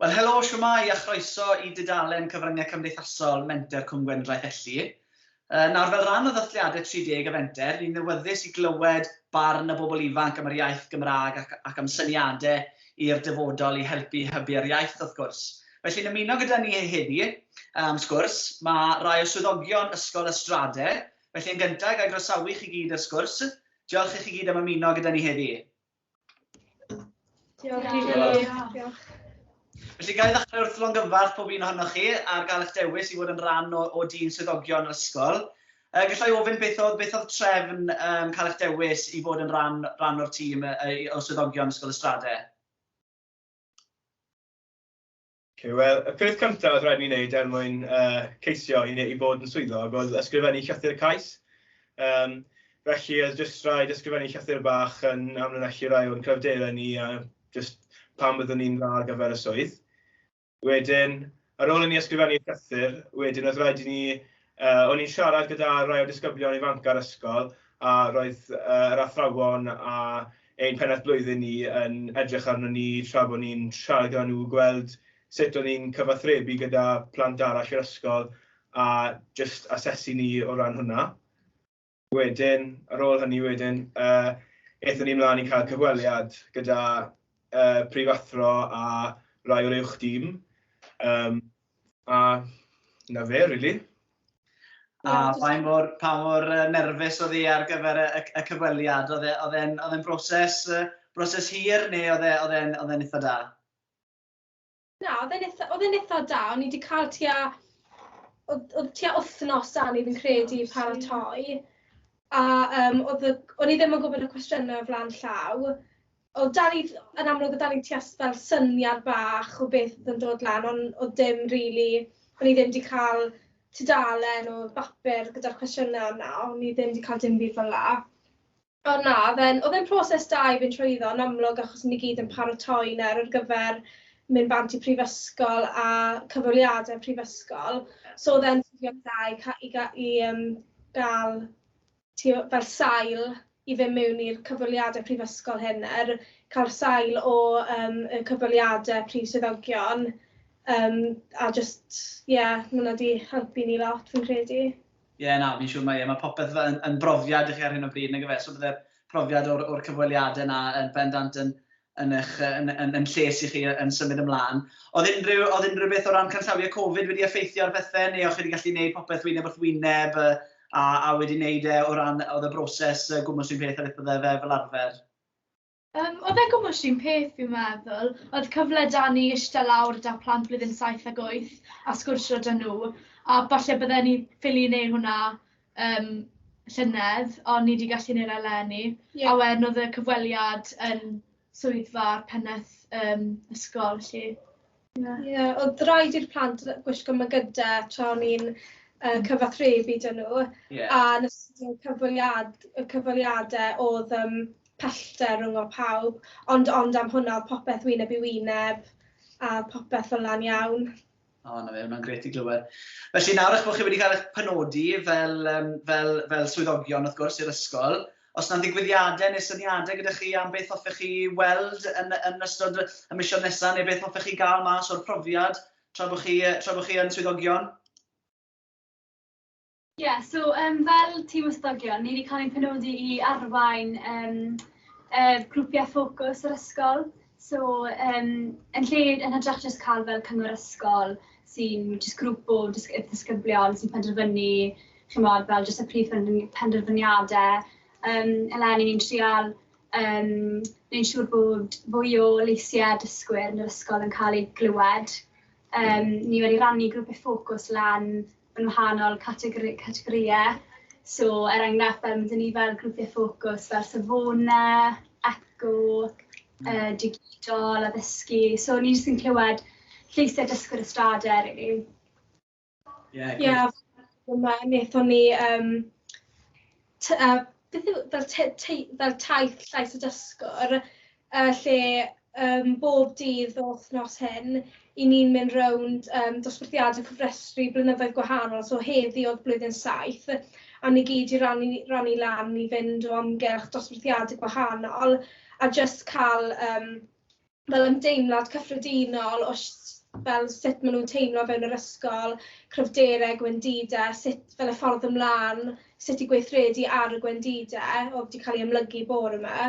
Wel helo, shwmae a chroeso i dudalen Cyfryngau Cymdeithasol Menter Cwm Gwendraeth Elli. Nawr fel rhan o ddathliadau 30 y Fenter, ni'n ddiwyddus i glywed barn y bobl ifanc am yr iaith Gymraeg ac am syniadau i'r dyfodol i helpu hybu'r iaith wrth gwrs. Felly'n ymuno gyda ni heddi am sgwrs, mae rhai o swyddogion Ysgol Ystrade, felly yn gyntaf ga i groesawu chi gyd i'r sgwrs. Diolch i chi gyd am ymuno gyda ni heddi. Diolch i chi. Felly ga i ddechrau wrth longyfarch pob un ohonoch chi ar gael eich dewis i fod yn rhan o, o dîm swyddogion yr ysgol. Uh, gallai ofyn beth oedd, beth oedd trefn um, cael eich dewis i fod yn rhan, rhan o'r tîm uh, o swyddogion Ysgol Ystrade? Okay, Wel, y peth cyntaf oedd rhaid ni wneud er mwyn uh, ceisio i, i fod yn swyddog oedd ysgrifennu llythyr cais. Um, felly, oedd jyst rhaid ysgrifennu llythyr bach yn amlinellu rai o'n cryfderau ni a just pam byddwn ni'n dda ar gyfer y swydd. Wedyn, ar ôl i ni ysgrifennu llythyr, wedyn oedd rhaid i ni O'n i'n siarad gyda rai o disgyblion ifanc ar ysgol a roedd yr athrawon a ein pennaeth blwyddyn ni yn edrych arnon ni tra bod ni'n siarad gyda nhw gweld sut o'n ni'n cyfathrebu gyda plant arall i'r ysgol a jyst asesu ni o ran hwnna. Wedyn, ar ôl hynny wedyn, yy aethon ni mlaen i cael cyfweliad gyda yy prifathro a rai o'r uwch dîm, um, a na fe, really. A pa mor, pa mor nerfus oedd hi ar gyfer y, y, y cyfweliad? Oedd e, e'n e, broses, broses hir neu oedd e'n e, oedd e'n eitha da? Na, oedd e'n eitha, oedd e'n eitha da. O'n i wedi cael tua, oedd, oedd tua wythnos da ni fi'n credu oh, paratoi. A um, oedd, o'n i ddim yn gwybod y cwestiynau o flaen llaw. Oedd da ni, yn amlwg, oedd da ni tua fel syniad bach o beth oedd yn dod lan, ond oedd dim rili, really, o'n i ddim wedi cael tudalen o bapur gyda'r cwestiynau yna, o'n i ddim wedi cael dim byd fel la. O na, oedd e'n, oedd e'n proses da i fynd trwyddo yn amlwg achos ni gyd yn paratoi nawr ar gyfer mynd bant i prifysgol a cyfweliadau prifysgol. So oedd e'n swnio'n dda i ca- i ga- i yym ga'l t'wo' fel sail i fyn' miwn i'r cyfweliadau prifysgol hyn er ca'l sail o yym y cyfweliadau prif swyddogion yym a jyst ie ma' wnna 'di helpu ni lot fi'n credu. Ie, na, fi'n siŵr mae e. Mae popeth fel yn yn brofiad i chi ar hyn o bryd, nag yfe? So bydde'r profiad o'r o'r cyfweliadau 'na yn bendant yn yn eich yy yn yn yn lles i chi yy yn symud ymlaen. Oedd unrhyw oedd unrhyw beth o ran canllawiau Covid wedi effeithio ar bethe, neu o'ch chi wedi gallu wneud popeth wyneb wrth wyneb yy a a wedi wneud e o ran oedd y broses yy gwmws un peth a beth bydde fe fel arfer? Yym, oedd e'n gwmws un peth fi'n meddwl, oedd cyfle 'da ni ishte lawr 'da plant blwyddyn saith ag wyth a sgwrsio 'da nhw, a falle bydden ni ffili wneud hwnna yym llynedd, ond ni 'di gallu wneud e eleni... ie... a wedyn oedd y cyfweliad yn swyddfa'r pennaeth yym ysgol 'lly. Ie. Ie, oedd rhaid i'r plant gwisgo mygyde tra o'n i'n yy cyfathrebu 'da nhw... Ie. ...a yn ystod y cyfweliad- y cyfweliade o'dd yym pellter ryngo pawb ond ond am hwnna o'dd popeth wyneb i wyneb a popeth fel 'na'n iawn. O 'na fe, hwnna'n grêt i glywed. Felly nawr 'ych bo chi wedi cael 'ych penodi fel yym fel fel swyddogion wrth gwrs i'r ysgol Os 'na ddigwyddiadau neu syniadau gyda chi am beth hoffech chi weld yn yn ystod y misoedd nesaf neu beth hoffech chi gael mas o'r profiad tra bod chi tra bod chi yn swyddogion? Ie, yeah, so um, fel tîm ysdogion, ni wedi cael ein penodi i arwain um, uh, grwpiau ffocws yr ysgol. So yym yn lle yn hytrach jyst ca'l fel cyngor ysgol sy'n jyst grŵp o dysg- yy disgyblion sy'n penderfynu ch'mod fel jyst y prif pender- penderfyniade yym eleni ni'n trial yym neud siŵr bod fwy o leisie dysgwyr yn yr ysgol yn ca'l eu glywed. Yym ni wedi rannu grwpie ffocws lan yn wahanol categori, categorïau. So, er enghraifft, fel mynd ni fel grwpiau ffocws fel Savona, Eco, uh, Digidol, Addysgu. So, ni jyst yn clywed lleisiau dysgwyr y strad er i. Ie, yeah, yeah, yma wnaethon ni um, t- yy beth yw fel tei- tei- fel taith llais y dysgwr yy lle yym bob dydd yr wythnos hyn 'y ni'n mynd rownd yym dosbarthiadau cofrestru blynyddoedd gwahanol, so heddi o'dd blwyddyn saith a ni gyd 'di rannu rannu lan i fynd o amgylch dosbarthiadau gwahanol a jyst ca'l yym fel ymdeimlad cyffredinol o sh- fel sut ma' nw'n teimlo o fewn yr ysgol, cryfderau, gwendide, sut fel y ffordd ymlan, sut i gweithredu ar y gwendide o'dd 'di ca'l ei amlygu bore 'ma.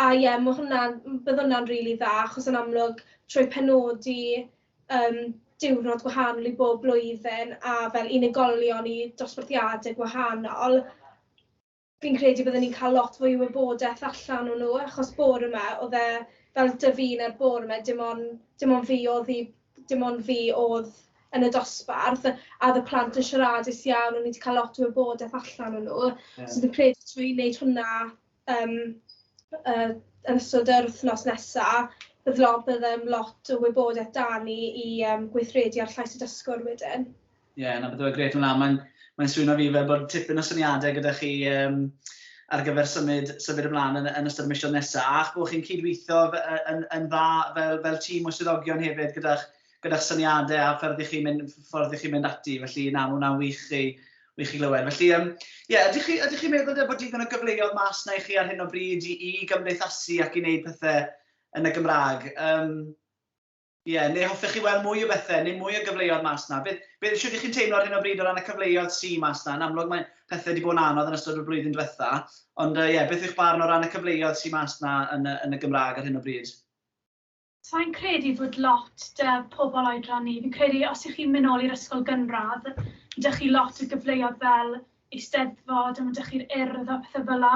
A ie ma' hwnna'n m- bydd hwnna'n rili dda achos yn amlwg trwy penodi yym diwrnod gwahanol i bob blwyddyn a fel unigolion i dosbarthiade gwahanol Fi'n credu bydden ni'n cael lot fwy o wybodaeth allan o nhw achos bore 'ma oedd e fel 'da fi nawr bore 'ma dim ond dim ond fi oedd i dim ond fi oedd yn y dosbarth a oedd y plant yn siaradus iawn o'n i 'di cael lot o wybodaeth allan o nhw so fi'n credu trwy wneud hwnna yym yy yn ystod yr wythnos nesa bydd lot bydd yym lot o wybodaeth 'da ni i yym gweithredu ar llais y dysgwr wedyn. Ie, yeah, na beth yw'r gret hwnna. Mae'n mae swyno fi fel bod tipyn o syniadau gyda chi um, ar gyfer symud, symud ymlaen yn, yn ystod y misiodd nesaf, a'ch bod chi'n cydweithio yn, yn dda fel, fel tîm o swyddogion hefyd gyda'ch gyda syniadau a ffordd i chi mynd, ffordd i chi mynd ati, felly na, mae hwnna'n wych i, wych i glywed. Felly, um, yeah, ydych chi, ydych chi meddwl bod digon o gyfleoedd mas na i chi ar hyn o bryd i, i gymdeithasu ac i wneud pethau yn y Gymraeg? Um, Ie, neu hoffech chi weld mwy o bethe, neu mwy o gyfleodd mas 'na? Beth, beth, shwt ych chi'n teimlo ar hyn o bryd o ran y cyfleodd sy mas 'na? Yn amlwg mae pethe 'di bod yn anodd yn ystod y blwyddyn dwetha, ond yy ie, beth yw'ch barn o ran y cyfleodd sy mas 'na yn y, yn y Gymrag ar hyn o bryd? Sai'n credu fod lot 'da pobl oedran ni. Fi'n credu os 'ych chi'n myn' nôl i'r ysgol gynradd, 'da chi lot o gyfleodd fel Eisteddfod a ma' 'da chi'r Urdd a pethe fela.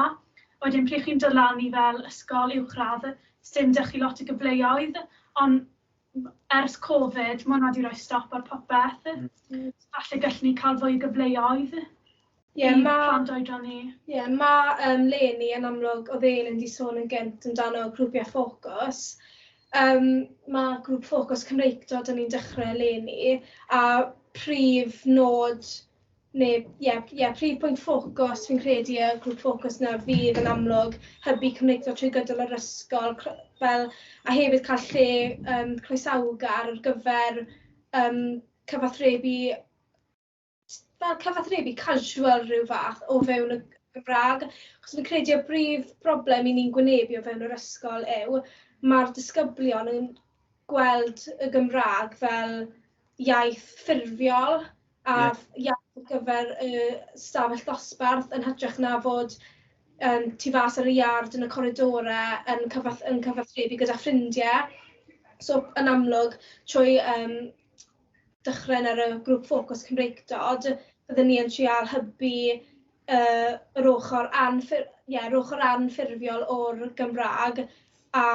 Wedyn pryd chi'n dod lan i fel ysgol uwchradd sdim 'da chi lot o gyfleoedd on' m- ers Covid ma' wnna 'di roi stop ar popeth. Falle gallwn ni ca'l fwy o gyfleoedd i plant oedran ni. Ie ma' yym Leonie yn amlwg o'dd e mynd i sôn yn gynt amdano grwpie ffocws yym ma' grŵp ffocws Cymreictod 'dyn ni'n dechre eleni a prif nod Neu, ie, ie, prif pwynt ffocws fi'n credu y grŵp ffocws 'na fydd yn amlwg hybu cymdeithasol trwy gydol yr ysgol, fel, a hefyd cael lle um, croesawgar ar gyfer um, cyfathrebu, fel cyfathrebu casual rhyw fath o fewn y Gymraeg. Chos fi'n credu y brif broblem i ni'n gwynebu o fewn yr ysgol yw mae'r disgyblion yn gweld y Gymraeg fel iaith ffurfiol, a iaith ar gyfer y stafell ddosbarth yn hytrach na fod yym tu fas ar y iard yn y coridore yn cyfath- yn cyfathrebu gyda ffrindie so yn amlwg trwy yym dychryn ar y grŵp ffocws Cymreictod bydden ni yn trial hybu yy yr ochor anffur- ie yr ochor anffurfiol o'r Gymra'g a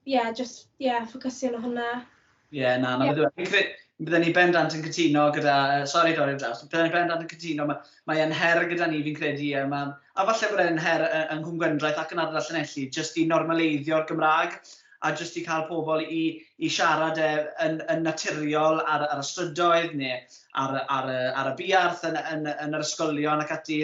ie, jyst, ie, ffocysio arno hwnna. Ie, na, na beth yw e. Bydden ni bendant yn cytuno gyda, sori dorri ar draws, bydden ni bendant yn cytuno, mae e'n her gyda ni fi'n credu, a, ma, a falle bod e'n her yng Nghwm Gwendraeth ac yn Ardal Llanelli, jyst i normaleiddio'r Gymraeg a jyst i cael pobl i, i siarad e yn, yn naturiol ar, ar y strydoedd neu ar, ar, ar, ar y buarth yn, yn, yn yr ysgolion ac ati,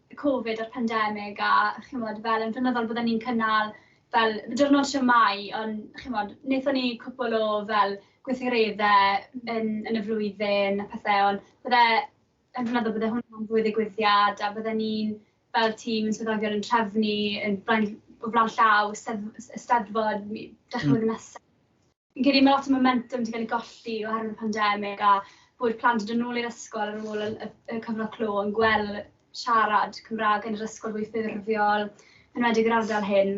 Covid a'r pandemig a ch'mod fel yn flynyddol bydden ni'n cynnal fel diwrnod siamau ond ch'mod nethon ni cwpwl o fel gweithgaredde yn yn y flwyddyn a pethe ond bydde yn flynyddol bydde hwnna'n fwy ddigwyddiad a bydden ni'n fel tîm yn swyddogion yn trefnu yn blaen o flaen llaw sedd- Eisteddfod mi- dechre hmm. flwyddyn nesa. Fi'n credu ma' lot o momentum 'di ga'l ei golli oherwydd y pandemic a bod plant 'di dod nôl i'r ysgol ar ôl y y y cyfnod clo yn gwel' siarad Cymra'g yn yr ysgol fwy ffurfiol enwedig yr ardal hyn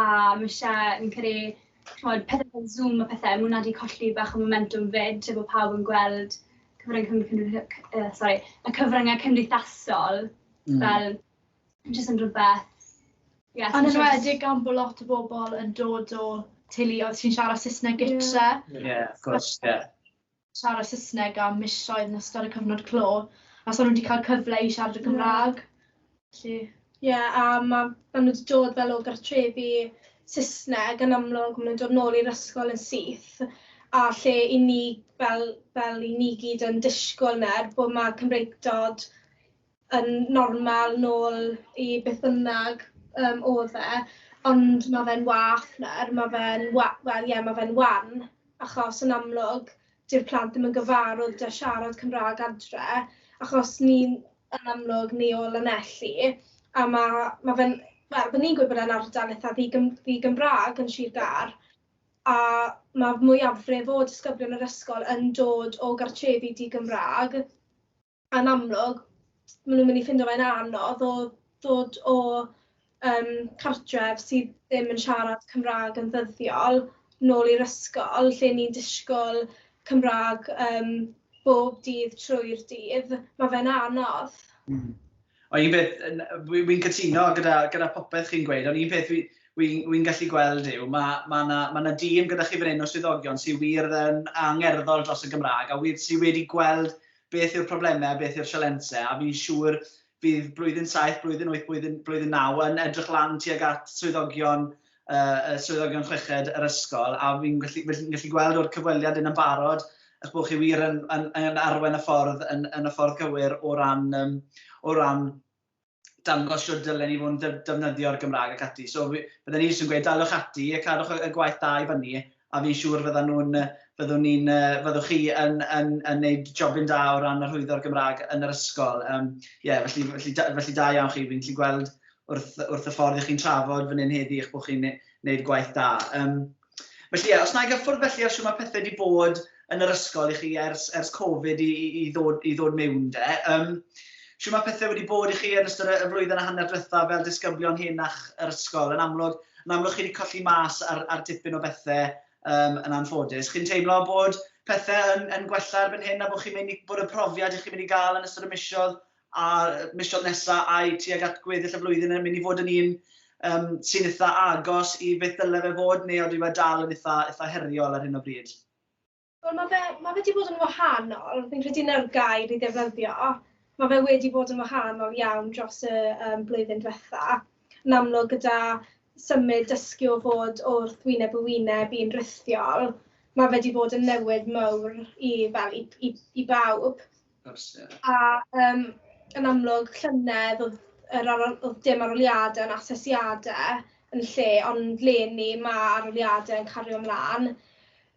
a ma' isie fi'n credu t'mod pethe fel Zoom a pethe ma' wnna 'di colli bach o momentum 'fyd lle bo' pawb yn gweld cyfrynge cymdei- cy- yy sori y cyfrynge cymdeithasol... Hmm. ...fel jyst yn rwbeth ie... Yn enwedig gan bo' lot o bobl yn dod o teuluoedd sy'n siarad Saesneg gytre. Ie. Ie wrth gwrs ie. Siarad Saesneg am misoedd yn ystod y cyfnod clo a so nw 'di ca'l cyfle i siarad y Gymra'g. Felly... Ie a ma' ma' nw 'di dod fel o gartrefi Saesneg yn amlwg ma' nw'n dod nôl i'r ysgol yn syth a lle 'yn ni fel fel 'yn ni gyd yn dishgwl nawr bo' ma' Cymreictod yn normal nôl i beth bynnag yym oedd e, ond ma' fe'n wath nawr, ma' fe'n wa- wel ie ma' fe'n wan, achos yn amlwg dyw'r plant ddim yn gyfarwydd 'da siarad Cymraeg adre, achos ni'n yn amlwg ni o Lanelli, a ma' ma' fe'n wel 'dan ni'n gwybod bod e'n ardal eitha' ddigym- ddigymraeg yn Sir Gâr, a ma' mwyafrif o disgyblion yr ysgol yn dod o gartrefi di-gymraeg. yn amlwg maen nhw'n mynd i ffindo fe'n anodd o ddod o um, cartref sydd ddim yn siarad Cymraeg yn ddyddiol nôl i'r ysgol lle ni'n disgwyl Cymraeg um, bob dydd trwy'r dydd, mae fe'n anodd. Mm. Ond un peth, wy'n cytuno gyda, gyda popeth chi'n gweud, ond un peth wy'n wy, wy gallu gweld yw, mae ma yna ma na dîm gyda chi fan hyn o swyddogion sy'n wir yn angerddol dros y Gymraeg a wir, sy'n wedi gweld beth yw'r problemau a beth yw'r sialensau, a fi'n siŵr bydd blwyddyn saith, blwyddyn wyth, blwyddyn, blwyddyn naw yn edrych lan tuag at swyddogion, uh, swyddogion chweched yr ysgol, a fi'n gallu, fi gallu gweld o'r cyfweliad yn ymbarod eich bod chi wir yn, yn, yn arwen y ffordd yn, yn y ffordd gywir o ran, um, o ran dangos shwt dylen ni fod yn defnyddio'r Gymraeg ac ati. So bydden ni jyst yn gweud daliwch ati a cadwch y gwaith da i fyny a fi'n siŵr fyddan nhw'n, fyddwn ni'n, fyddwch chi yn, yn, yn neud jobyn da o ran arhwyddo'r Gymraeg yn yr ysgol. Um, yeah, felly, felly, felly da iawn chi, fi'n gallu gweld wrth, wrth y ffordd ych chi'n trafod fan hyn heddi eich bod chi'n neud gwaith da. Um, Felly ie, os wna i gyffwrdd felly ar shwt mae pethe 'di bod yn yr ysgol i chi ers ers Covid i i i ddod i ddod miwn 'de, yym shwt mae pethe wedi bod i chi yn ystod y y flwyddyn a hanner dwetha fel disgyblion hŷn a'ch yr ysgol? Yn amlwg yn amlwg chi 'di colli mas ar ar dipyn o bethe yym yn anffodus. Chi'n teimlo bod pethe yn yn gwella erbyn hyn a bo' chi'n myn' i bod y profiad 'ych chi'n mynd i ga'l yn ystod y misoedd a'r misoedd nesa ai tuag at gweddill y flwyddyn yn mynd i fod yn un yym sy'n itha agos i beth ddyle fe fod neu odyw e dal yn itha itha heriol ar hyn o bryd? Wel ma' fe ma' fe 'di bod yn wahanol, fi'n credu 'na'r gair i ddefnyddio, ma' fe wedi bod yn wahanol iawn dros y yym blwyddyn dwetha. Yn amlwg gyda symud dysgu o fod wrth wyneb yn wyneb i'n rhithiol ma' fe 'di bod yn newid mowr i fel i i i bawb. A yym yn amlwg llynedd o'dd yr ar- o'dd dim arholiade on' asesiade yn lle ond leni ma' arholiade yn cario mlan.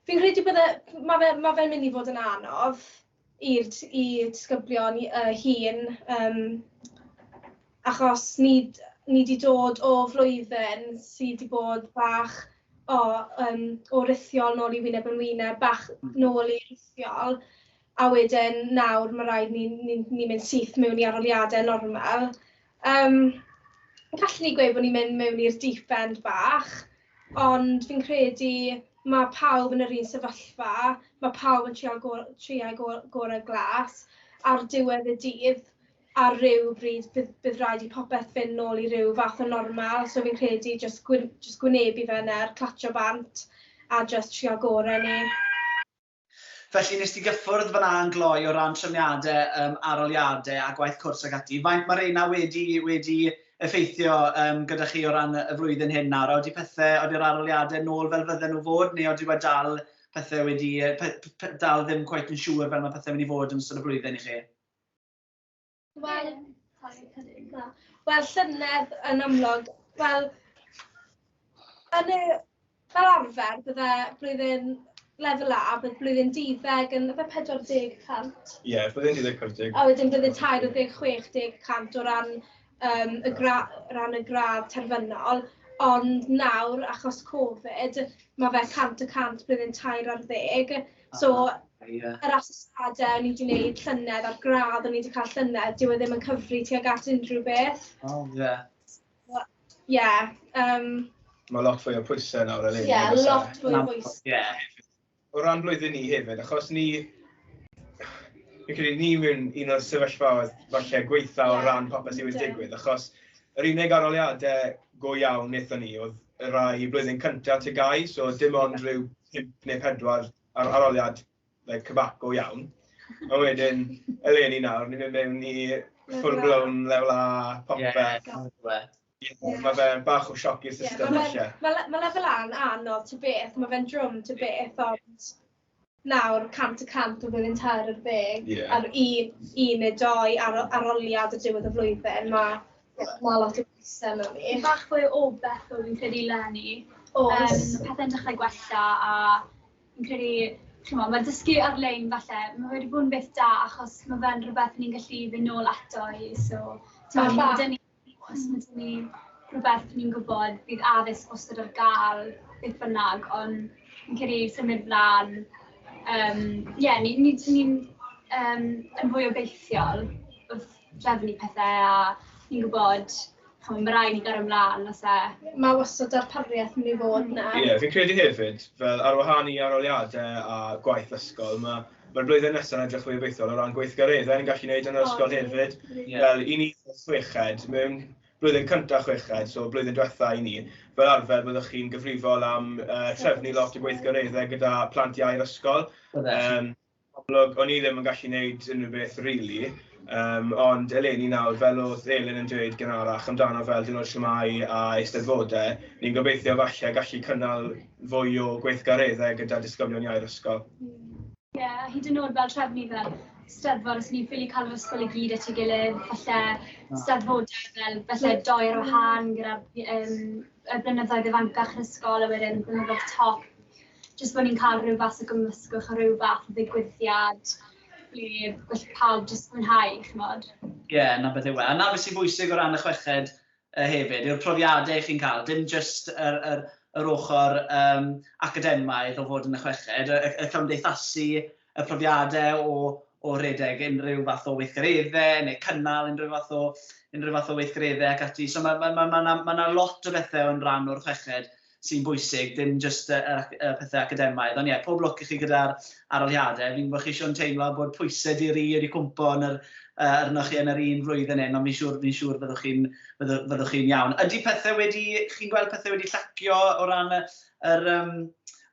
Fi'n credu bydde ma' fe ma' fe'n myn' i fod yn anodd i'r t- i disgyblion i- yy hŷn yym achos ni d- ni 'di dod o flwyddyn sy 'di bod bach o yym o rithiol nôl i wyneb yn wyneb bach nôl i rithiol. a wedyn nawr ma' raid ni ni ni'n mynd syth mewn i arholiadau normal. Yym gallen ni gweud bod ni'n mynd mewn i'r deep end bach, ond fi'n credu ma' pawb yn yr un sefyllfa, ma' pawb yn trial go- trio go- gorau glas, ar diwedd y dydd ar ryw bryd bydd bydd raid i popeth fynd nôl i ryw fath o normal, so fi'n credu jyst gwyn- jyst gwynebu fe nawr, clatsio bant a jyst trio gorau ni. Felly, wnest ti gyffwrdd fan'na yn gloi o ran trefniadau yym arholiadau a gwaith cwrs ac ati. Faint mae reina wedi wedi effeithio yym gyda chi o ran y flwyddyn hyn nawr? A odi pethe, odi'r arholiadau nôl fel fydden nhw fod, neu odi wedi dal pethe wedi yy pe- pe- dal ddim cweit yn siŵr fel mae pethe mynd i fod yn ystod y flwyddyn i chi? Wel, wel llynedd yn amlwg, wel, yn y, fel arfer, bydde blwyddyn lefel A, bydd blwyddyn dideg yn efo 40%. Ie, yeah, blwyddyn dideg 40. A wedyn blwyddyn 40, 60% o ran, um, y gra, ran y gradd terfynol. Ond nawr, achos Covid, mae fe 100 y 100 blwyddyn 12. So, yr asesiadau o'n i wedi gwneud llynedd a'r gradd o'n i wedi cael llynedd, dyw e ddim yn cyfri tuag at unrhyw beth. O, oh, ie. Yeah. Ie. Yeah, um... Mae lot fwy o pwysau nawr eleni. Ie, yeah, lot fwy o pwysau. Ie. Yeah. O ran blwyddyn ni hefyd, achos ni... Fi'n credu ni mewn un o'r sefyllfaoedd falle gweitha o ran popeth sy'n wedi digwydd, achos Yr unig arholiadau go iawn wnaethon ni oedd y rhai blwyddyn cyntaf TGAU, so dim ond rhyw pump neu pedwar ar- arholiad like cybac go iawn. A wedyn, eleni nawr, ni'n mynd mewn i full blown lefel A popeth. Ie, mae fe bach o sioc i'r system falle. Mae lefel A'n anodd ta beth, mae fe'n drwm ta beth, ond nawr cant y cant o flwyddyn tair ar ddeg... Ie. ...ar un un neu dou ar o- aroliad ar diwedd y flwyddyn ma' ie ma' lot o bwyse arno ni. Bach fwy o obaith o fi'n credu leni. Oes. Yym pethe'n dechre gwella a fi'n credu ch'mo' ma' dysgu ar-lein falle ma' wedi bod yn beth da achos ma' fe'n rwbeth ni'n gallu fyn' nôl ato i so t'mod ma' 'da ni Os ydyn ni rhywbeth ni'n gwybod bydd addysg wastad ar gael beth bynnag ond fi'n credu symud mlan yym ie ni ni ni'n yym yn fwy obeithiol wrth drefnu pethe a ni'n gwybod ch'mo' ma' rai' ni gario mlan os e... Ma' wastad darpariaeth myn' i fod 'na. Ie fi'n credu hefyd fel ar wahân i aroliade a gwaith ysgol ma' Mae'r blwyddyn nesaf yn edrych fwy obeithiol o ran gweithgareddau ni'n gallu wneud yn yr ysgol hefyd. Fel i ni chweched, mewn blwyddyn cyntaf chweched, so blwyddyn diwetha i ni, fel arfer byddwch chi'n gyfrifol am uh, trefnu lot o gweithgareddau gyda plant iau'r ysgol. Um, amlwg, o'n i ddim yn gallu wneud unrhyw beth rili, really, um, ond eleni nawr, fel oedd Elin yn dweud gynharach amdano fel dyn o'r siamau a eisteddfodau, ni'n gobeithio falle gallu cynnal fwy o gweithgareddau gyda disgyblion iau'r ysgol. Ie, a hyd yn oed fel trefnu fel Steddfod os ni'n ffili cael yr ysgol i gyd at ei gilydd, falle Steddfodau fel falle doi ar wahân gyda'r yym y blynyddoedd ifancach yn ysgol a wedyn blynyddoedd top. Jyst bod ni'n cael rhyw fath o gymysgwch a rhyw fath o ddigwyddiad ble gall pawb jyst mwynhau, chimod? Ie, 'na beth yw e. A 'na beth sy'n bwysig o ran y chweched, yy hefyd yw'r profiadau chi'n cael, dim jyst yr yr yr ochr yym academaidd o fod yn y chweched, y y y cymdeithasu, y profiadau o o redeg unrhyw fath o weithgareddau neu cynnal unrhyw fath o unrhyw fath o weithgareddau ac ati. So ma' ma' ma' ma' 'na ma' 'na lot o bethau yn rhan o'r chweched sy'n bwysig, dim jyst y, y, y pethau academaidd. Ond ie, yeah, pob lwc i chi gyda'r aroliadau. Fi'n gwybod chi eisiau'n teimlo bod pwysau di ri wedi cwmpo yn yr, uh, arnoch chi yn yr un flwyddyn hyn, ond fi'n siŵr, fi siŵr fyddwch chi'n fyddwch chi iawn. Ydy pethau wedi, chi'n gweld pethau wedi llacio o ran yr, um,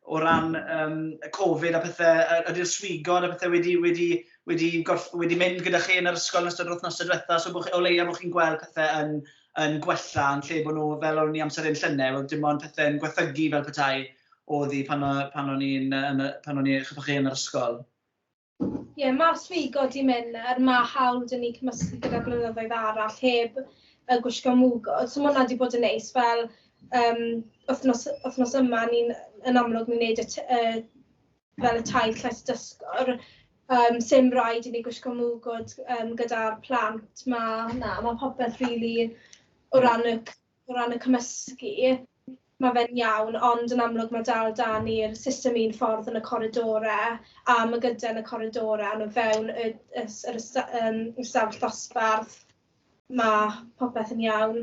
o ran um, y Covid a pethau, ydy'r swigod a pethau wedi, wedi, wedi, gorff, wedi mynd gyda chi yn yr ysgol yn ystod yr wythnosau diwetha, so bod, o leia bod chi'n gweld pethau yn, yn gwella yn lle bod nhw fel o'n ni amser hyn llynedd oedd dim ond pethau'n gwethygu fel petai oedd hi pan o'n ni'n pan o'n ni chyfwch chi yn yr ysgol. Ie, mae'r swygo di mynd nawr, mae hawl da ni cymysgu gyda blynyddoedd arall heb yy gwisgo mwgwd, so ma' hwnna di bod yn neis fel yym wythnos wythnos yma ni'n yn amlwg ni'n neud y t- yy fel y taith llais dysgwr yym sim raid i ni gwisgo mwgwd yym gyda'r plant ma' na ma' popeth rili o ran y c- o ran y cymysgu ma' fe'n iawn ond yn amlwg ma' dal 'da ni'r system un ffordd yn y coridore a ma' gyda yn y coridore a ma' fewn y y s- yr ysta- yym ystafell ddosbarth Mae popeth yn iawn.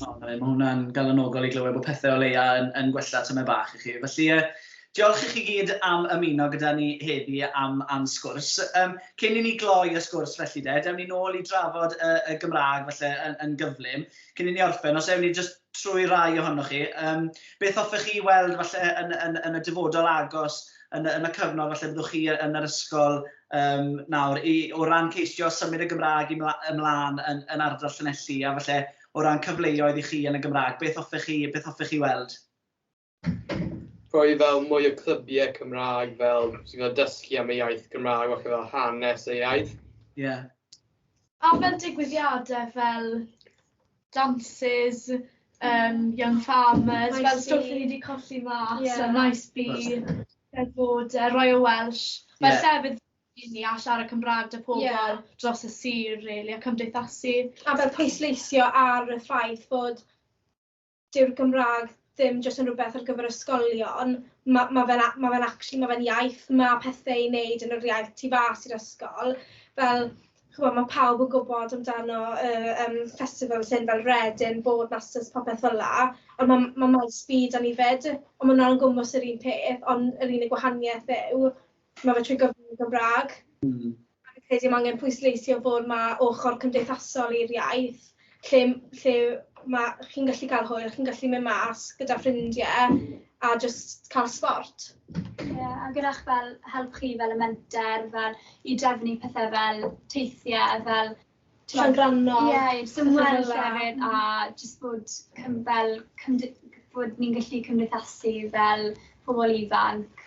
O, mae hwnna'n galonogol i glywed bod pethau o leia yn, yn gwella tymau bach i chi. Felly, uh, diolch i chi gyd am ymuno gyda ni heddi am, am sgwrs. Um, cyn i ni gloi y sgwrs felly de, dewn ni nôl i drafod y, y Gymraeg felly yn, yn gyflym. Cyn i ni orffen, os ewn ni just trwy rai ohonoch chi, um, beth hoffech chi weld falle yn, yn, yn y dyfodol agos yn, yn y cyfnod falle byddwch chi yn yr ysgol Yym, nawr, i, o ran ceisio symud y Gymraeg i mla, ymlaen yn, yn ardal Llanelli, a falle o ran cyfleoedd i chi yn y Gymraeg, beth hoffech chi, beth hoffech chi weld? Rhoi fel mwy o clybiau Cymraeg fel sydd fel dysgu am y iaith Gymraeg, falle fel hanes y iaith. Ie. Yeah. A fel digwyddiadau fel dances, um, young farmers, fel stwff ni wedi colli mas, yeah. a nice bee. Fel bod yy Royal Welsh fel Ie. llefydd i ni a siarad Cymrâg 'da pobl... Ie. ...dros y sir rili a cymdeithasu. A fel pwysleisio ar y ffaith fod dyw'r Gymrâg ddim jyst yn rwbeth ar gyfer ysgolion, ma' ma' fe'n a- ma' fe'n actually ma' fe'n iaith, ma' pethe i neud yn yr iaith tu fas i'r ysgol, fel ch'mo' ma' pawb yn gwbod amdano y yym festivals hyn fel Reading, Boardmasters popeth fel 'a a ma' ma' maes B 'da ni 'fyd a ma' wnna'n gwmws yr un peth ond yr unig wahanieth yw ma' fe trwy gyfrwng y Gymra'g. Hmm. A fi'n credu ma' angen pwysleisio bod ma' ochor cymdeithasol i'r iaith lle lle ma' chi'n gallu ca'l hwyl chi'n gallu myn' mas gyda ffrindie a jyst ca'l sbort. Ie a gyda'ch fel help chi fel y menter fel i drefnu pethe fel teithie fel t'mod... Llongyfarno. ...ie i jyst ymweld hefyd a jyst bod cym- fel cymdy- bod ni'n gallu cymdeithasu fel pobol ifanc.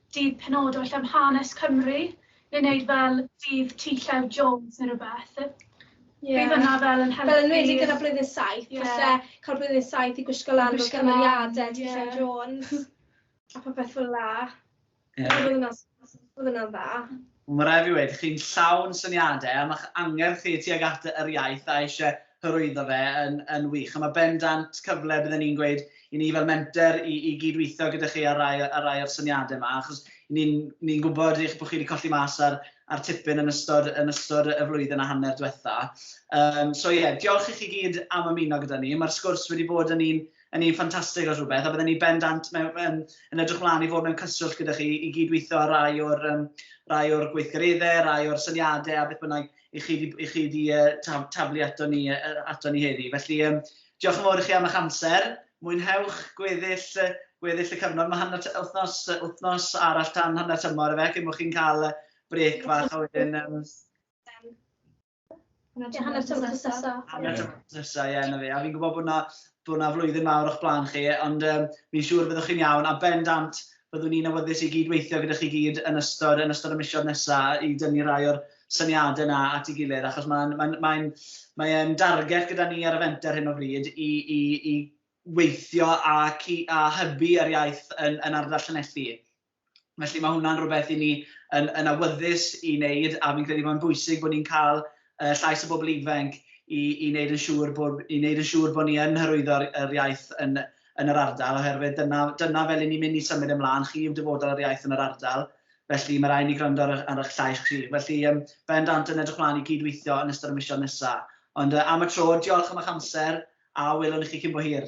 Dydd penodol lle am hanes Cymru ni'n neud fel dydd T Llew Jones ne rwbeth. Ie. Bydd hwnna fel yn helpu. Fel enwedig gyda blwyddyn saith. Ie. Falle ca'l blwyddyn saith i gwisgo lan fel cymeriade T Llew Jones a popeth fel 'a. Ie. Bydd hwnna s- bydd hwnna'n dda. Mae rhaid fi weud, chi'n llawn syniadau a mae'ch angerdd chi tuag at yr iaith a eisiau hyrwyddo fe yn yn wych a mae bendant cyfle bydden i'n gweud i ni fel menter i i gyd-weithio gyda chi ar rai ar rai o'r syniadau yma achos ni'n ni'n gwybod eich bod chi wedi colli mas ar ar tipyn yn ystod yn ystod y flwyddyn a hanner diwetha. Yym so ie, diolch i chi gyd am ymuno gyda ni. Mae'r sgwrs wedi bod yn un yn un ffantastig os rhywbeth, a byddwn ni bendant mewn, yn, yn edrych mlaen i fod mewn cyswllt gyda chi i gydweithio ar rai o'r, um, rai o'r gweithgareddau, rai o'r syniadau a beth bynnag i chi di, i chi di uh, tab, tablu ato ni, uh, ato ni heddi. Felly, um, diolch yn fawr i chi am eich amser. Mwynhewch gweddill, gweddill y cyfnod. Mae hanner wythnos, wythnos arall tan hanner tymor efe, cyn bod chi'n cael brec fach a wedyn... Um, Ie, hanner tymor nesaf. Hanner tymor nesaf, ie, na fi. A fi'n gwybod bod na, bod na flwyddyn mawr o'ch blaen chi, ond um, fi'n siŵr byddwch chi'n iawn, a ben dant byddwn ni'n awyddus i gyd-weithio gyda chi gyd yn ystod, yn ystod y misiodd nesaf i dynnu rai o'r syniadau yna at ei gilydd, achos mae'n mae, mae, mae, mae darget gyda ni ar y fenter hyn o bryd i, i, i weithio a, cu, a hybu yr iaith yn, yn ardal Llanelli. Felly mae hwnna'n rhywbeth i ni yn, yn awyddus i wneud a fi'n credu mae'n bwysig bod ni'n cael uh, llais y bobl ifanc i, i wneud yn siŵr bod, i wneud yn siŵr bod ni yn hyrwyddo'r yr iaith yn, yn yr ardal oherwydd dyna, dyna fel i ni'n mynd i symud ymlaen, chi yw dyfodol yr iaith yn yr ardal felly mae rhaid ni gwrando ar, ar eich llais chi. Felly, um, bendant yn edrych mlaen i gydweithio yn ystod y misiodd nesaf. Ond uh, am y tro, diolch am eich amser a welwn i chi cyn bo hir.